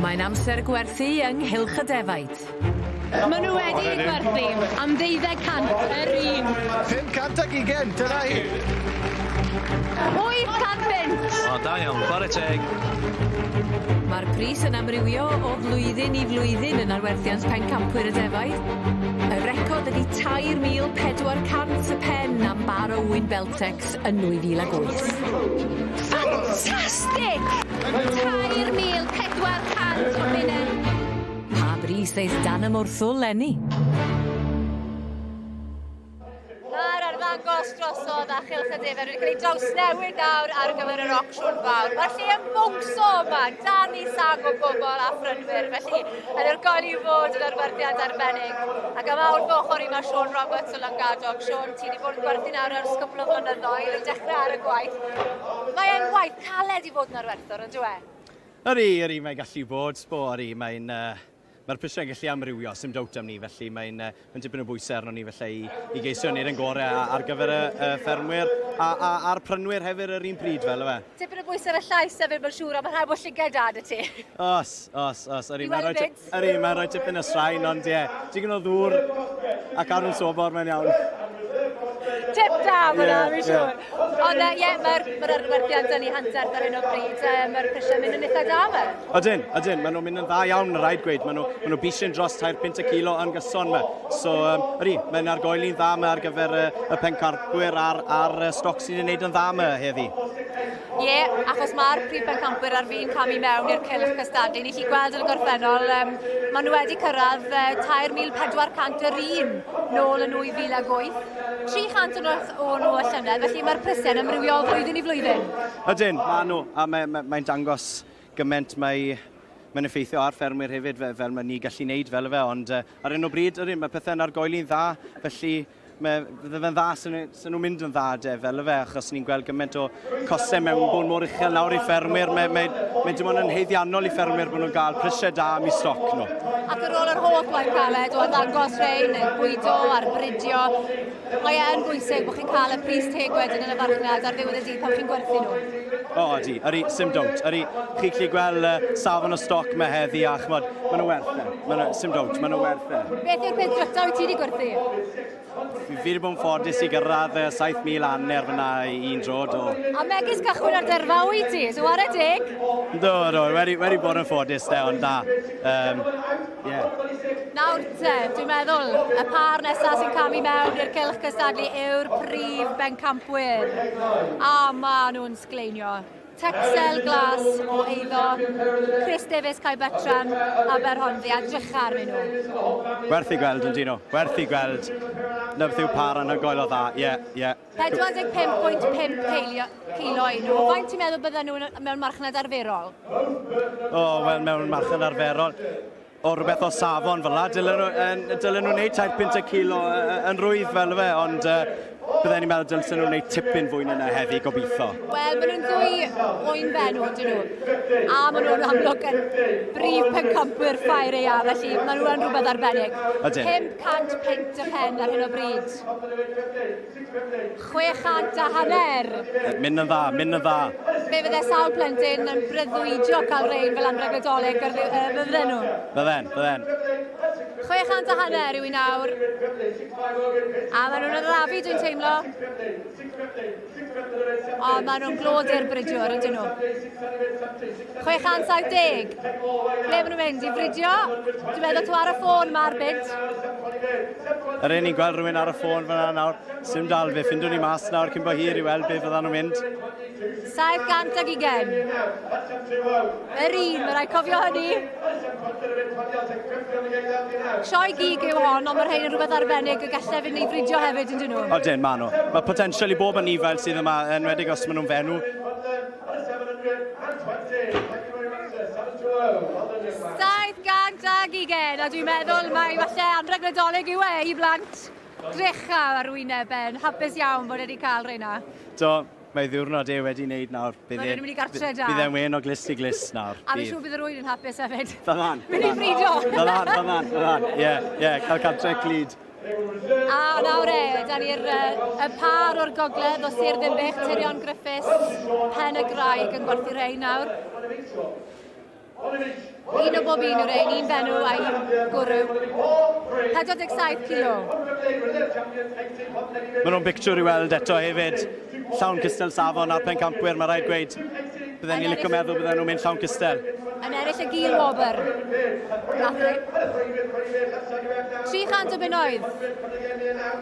Mae'n amser gwerthu ynghylch y defaid. Maen nhw wedi eu gwerthu am ddeuddeg cant yr un. Pum cant ac ugain, dyna hi. Wyth cant punt! O, da iawn, chwarae teg. Mae'r pris yn amrywio o flwyddyn i flwyddyn yn arwerthiant pencampwyr y defaid. Y record ydy 3,400 y pen am bar o ŵyn Beltex yn 2008. Ffantastig! 3,400 o bunnau! Pa bris ddes dan y morthwl, Lenny? Mae'r arddangos drosodd a chylch y defer wedi cael ei drawsnewid nawr ar gyfer yr ocsiwn fawr. Mae'r lle yn bwngso yma, dan i sag o bobl a phrynwyr, felly yn yr goel i fod yn arwerthiant arbennig. Ac am awr fy ochr i mae Siôn Roberts o Langadog. Siôn? Ti wedi bod yn gwerthu nawr ers cwpl o flynyddoedd, yn dechrau ar y gwaith. Mae e'n waith caled i fod yn arwerthwr, yn dweud? Yri, yri, mae'n gallu bod. Bo, yri, mae'n... Uh, Mae'r prisiau'n gallu amrywio, sy'n dawt am ni, felly mae'n uh, mae dipyn o bwysau arno ni felly i, i geisio wneud yn gorau ar gyfer y uh, ffermwyr a, a, a'r prynwyr hefyd yr un pryd fel yma. Tipyn o bwysau ar y llais hefyd, mae'n siŵr, a mae rhaid bod llygaid da dy ti. Os, os, os. Yri, I weld y byd. Ydy, mae'n rhoi tipyn o straen, ond ie, digon o ddŵr ac arwyn sobor, mae'n iawn. Tip da fyna, yeah, fi'n siŵr. Yeah. Ond ie, uh, yeah, mae'r ma arwerthiad dyn ni hanterth ar hyn o bryd, uh, mae'r prisiau mynd yn eitha da fe. Ydyn, ydyn, maen nhw'n mynd yn dda iawn, rhaid gweud. Maen nhw'n nhw, nhw bisyn dros tair pint y kilo yn gyson yma. So, um, ydy, mae'n argoeli'n dda yma ar gyfer uh, y pencarbwyr a'r, ar uh, stoc sy'n ei wneud yn dda yma heddi. Ie, yeah, achos mae'r prif bencampwyr ar fi'n camu mewn i'r cylch cystadlu. Ni chi gweld yn y gorffennol, um, maen nhw wedi cyrraedd uh, 3,401 nôl yn 2008. 300 yn ôl o nhw y llynedd, felly mae'r prysau'n amrywiol flwyddyn i flwyddyn. Ydyn, maen nhw, a mae'n mae, mae dangos gymaint mae mae'n effeithio ar ffermwyr hefyd fel, fel mae ni gallu wneud fel efe, ond uh, ar un o bryd, yr un, mae pethau'n argoeli'n dda, felly Mae, fe fe'n dda, sy'n nhw, nhw mynd yn dda de, fel y fe, achos ni'n gweld gymaint o cosau mewn bod mor uchel nawr i ffermwyr. Mae, mae, mae dim ond yn heiddiannol i ffermwyr bod nhw'n cael prisiau da am i stoc nhw. Ac ar ôl yr holl waith caled o ddangos rhain, bwydo a'r bridio, mae e'n bwysig bod chi'n cael y pris teg wedyn yn y farchnad ar ddiwedd y dydd pan chi'n gwerthu nhw. O, oh, di, ydy, sim dwnt. Ydy, chi'n gallu gweld uh, safon o stoc mae heddi a chmod, maen nhw werth e. Mae yna, sy'n dawt, mae yna werth e. Beth yw'r peth drytaf i ti wedi gwerthu? Fi wedi bod yn ffodus i gyrraedd 7,000 anner fyna i un dro do. A megis cychwyn ar derfa i ti, so ar y deg? Do, do, wedi, wedi bod yn ffodus de, ond da. Um, yeah. Nawr te, dwi'n meddwl, y par nesaf sy'n camu mewn i'r cylch cystadlu yw'r prif bencampwyr. A maen nhw'n sgleinio. Tecstil glas o eiddo, Chris Davies, Cae Bertram, Aberhonddu, a drycha arnyn nhw. Werth i gweld, yndyn nhw. Werth i gweld. Na beth yw pâr anhygoel o dda. Ie, yeah, ie. Yeah. 45.5 ceilio, ceilio i nhw. Faint ti'n meddwl bydden nhw mewn marchnad arferol? O, oh, wel, mewn marchnad arferol. O, rhywbeth o safon fel la, dylen nhw, yn, dylen nhw wneud tair pint y kilo yn rwydd fel fe, ond uh, bydden ni'n meddwl dylsen nhw'n gwneud tipyn fwy na heddi, gobeithio. Wel, maen nhw'n ddwy oen fenw, dyn nhw. A maen nhw'n amlwg yn brif pencampwyr ffair ei a, felly maen nhw'n rhywbeth arbennig. Ydyn. 500 pint y pen ar hyn o bryd. Chwe chant a hanner! Mynd yn dda, mynd yn dda. Fe fydde sawl plentyn yn breuddwydio cael rein fel anrheg Nadolig gyr ddi- yy, fydden nhw? Bydden, bydden. Chwe chant a hanner yw i nawr. A maen nhw'n arafu, dwi'n teimlo. O, maen nhw'n glod i'r bridiwr, ydyn nhw. 670. Ble maen nhw'n mynd? I fridio? Dwi'n meddwl tu ar y ffôn mae'r byd. Yr un ni'n gweld rhywun ar y ffôn fyna nawr. Sym dal fe, ffindwn ni mas nawr cyn bo hir i weld beth fyddan nhw'n mynd. 720. Yr un, mae rhaid cofio hynny. Sioe gig yw hon, ond mae'r rhain yn rhywbeth arbennig y gallai fynd i fridio hefyd yn dyn nhw. O dyn, maen nhw. Mae potensial i bob yn nifael sydd yma, enwedig os maen nhw'n fenw. 720, a dwi'n meddwl mai falle anrheg Nadolig yw e i blant drecha ar wyneb e, yn hapus iawn bod e wedi cael rheina. Do, mae ddiwrnod e wedi wneud nawr. Bydd e'n mynd i gartre da. Bydd e'n wen o glist i glist nawr. A fi'n siŵr bydd yr wyl yn hapus hefyd. Fel lan. Mynd i frido. Fel lan, fel lan, fel lan. Ie, ie, cael cartre clyd. A nawr e, da ni'r y par o'r gogledd o Sir Ddinbych, Tirion Griffiths, Pen y Graig yn gwerthu rhain nawr. Un o bob un yw'r ein, un benw a un gwrw. 47 kilo. Mae nhw'n bictiwr i weld eto hefyd. Llawn cystal safon a'r pencampwyr, mae rhaid gweud. Bydden ni'n licio meddwl bydden nhw'n mynd llawn cystel. Yn eraill y gil wobr. Grathri. 300 o bunnoedd.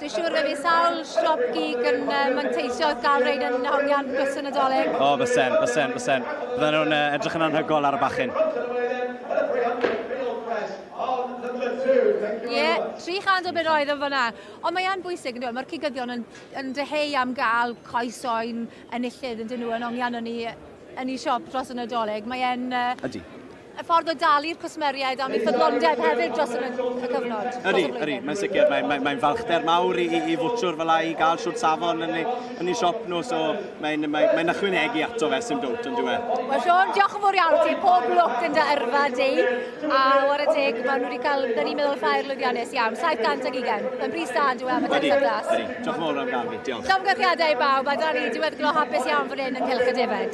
Dwi'n siŵr fe fi sawl siop gig yn uh, manteisio wrth gael reid yn hongian bus y Nadolig. O, oh, fysen, fysen, fysen. Bydden nhw'n uh, edrych yn anhygol ar y bachyn. Ie, yeah, 300 o bunnoedd yn fyna. Ond mae'n bwysig, yn dweud, mae'r cigyddion yn, yn dyheu am gael coes oen enillydd yn dyn nhw yn ongiano ni yn ei siop dros y Nadolig. Mae e'n... Uh, Ydy. Y ffordd o dalu'r cwsmeriaid am ei ffyddlondeb hefyd dros y cyfnod. Ydy, ydy, mae'n sicr. Mae'n mae, mae falchder mawr i, i, i fwtwr fel i gael siwt safon yn ei, yn ei siop nhw, so mae'n mae, mae ychwanegu ato fe sy'n dwt yn dweud. Wel, Sean, diolch yn fawr iawn ti. Pob lwc yn dy yrfa di. A war y teg, maen nhw wedi cael, dyn ni'n meddwl, ffair lwyddiannus iawn. 720. Mae'n bris da, yn dweud, am y tecsa glas. Ydy, ydy. Diolch yn fawr am gael fi. Diolch. Llongyffiadau i bawb, a da ni diweddglo hapus iawn fan hyn yn Cylch y Defaid.